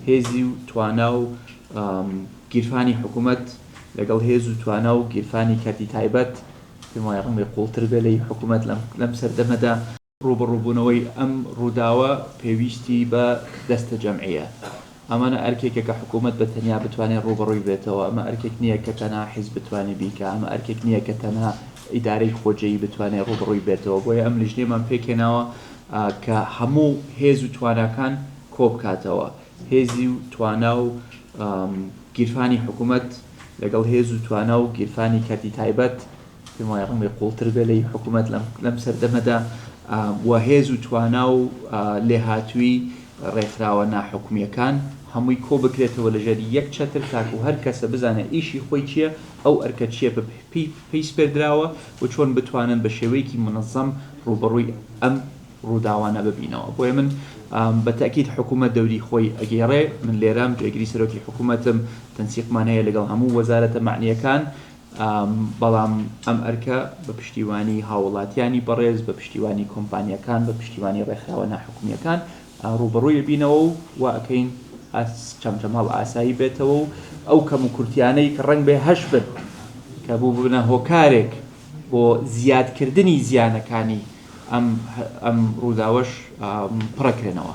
هێزی و توانا و گیرفانی حکوومەت لەگەڵ هێز و توانا و گیرفانی کەرتی تایبەت، پێم وایە ڕەنگە قووڵتر بێ لەی حکوومەت لەم سەردەمەدا. ڕووبەڕووبوونەوەی ئەم ڕووداوە پێویستی بە دەستە جەمعییە. ئەمانە ئەرکێکە کە حکوومەت بە تەنیا بتوانێ ڕووبەڕووی بێتەوە. ئەمە ئەرکێک نییە کە تەنها حیزب بتوانێ بیکا. ئەمە ئەرکێک نییە کە تەنها ئیدارەی خۆجێیی بتوانێ ڕووبەڕووی بێتەوە. بۆیە ئەم لیژنەیەمان پێکهێناوە کە هەموو هێز و تواناکان، کۆبکاتەوە، هێزی و توانا و گیرفانی حکومەت لەگەڵ هێز و توانا و گیرفانی کەرتی تایبەت، پێم وایە ڕەنگە قوڵتر بێ لەی حکومەت لەم سەردەمەدا، و هێز و توانا و لێهاتوویی ڕێکخراوە ناحکومییەکان هەمووی کۆبکرێتەوە لەژێر یەک چەتر تاکو هەر کەسە بزانێ ئیشی خۆی چییە، ئەو ئەرکە چییە پێی سپێردراوە و چۆن بتوانن بە شێوەیەکی منەزەم ڕووبەڕووی ئەم ڕووداوانە ببینەوە بۆیە من بە تەئکید حکوومەت دەوری خۆی ئەگێڕێ من لێرەم جێگری سەرۆکی حکوومەتم تەنسیقمان هەیە لەگەڵ هەموو وەزارەتە معنیەکان بەڵام ئەم ئەرکە بە پشتیوانی هاوڵاتیانی بەڕێز بە پشتیوانی کۆمپانیەکان بە پشتیوانی ڕێکخراوە ناحکومیەکان ڕوبەڕووی بینەوە و واکەین چەمچەماڵ ئاسایی بێتەوە و ئەو کەم و کورتیانەی کە ڕنگ بێ هەش بن کە بوو ببنە هۆکارێک بۆ زیادکردنی زیانەکانی ئەم ڕووداوەش پڕەکرێنەوە.